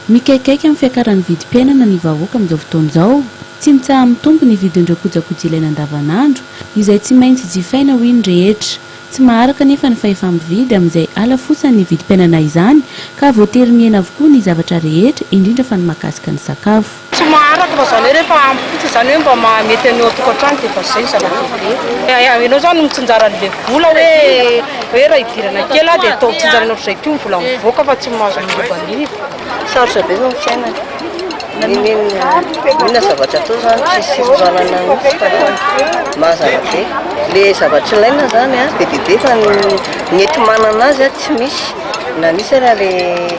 Mikaikaika amin'ny fiakaran'ny vidim-piainana ny vahoaka amin'izao fotoana izao. Tsy mitsaha-mitombo ny vidin'ireo kojakoja ilaina andavanandro, izay tsy maintsy jifaina hoy ny rehetra. Tsy maharaka anefa ny fahefa-mividy amin'izay halafosan'ny vidim-piainana izany, ka voatery mihena avokoa ny zavatra rehetra, indrindra fa ny mahakasika ny sakafo. Tsy maharaka fa zany hoe rehefa ampy fotsiny zany hoe mba maha mety an'io an-tokantrano dia efa zay ny zava-dehibe. Enao zany no mitsinjara an'ilay vola hoe hoe raha hidirana kely aho dia atao tsinjaraina ohatr'izay koa ny vola mivoaka fa tsy mahazo manimbanimba. Sarotra be zao ny fiainana. Inona zavatra atao zany tsisy fivoarana mihitsy fa mazana be. Ilay zavatra ilaina zany an be dia be fa ny ny enti-manana azy an tsy misy na misy ary ilay.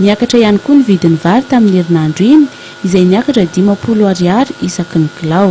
Niakatra ihany koa ny vidin'ny vary tamin'ny herinandro iny, izay niakatra dimampolo Ariary isaky ny kilao.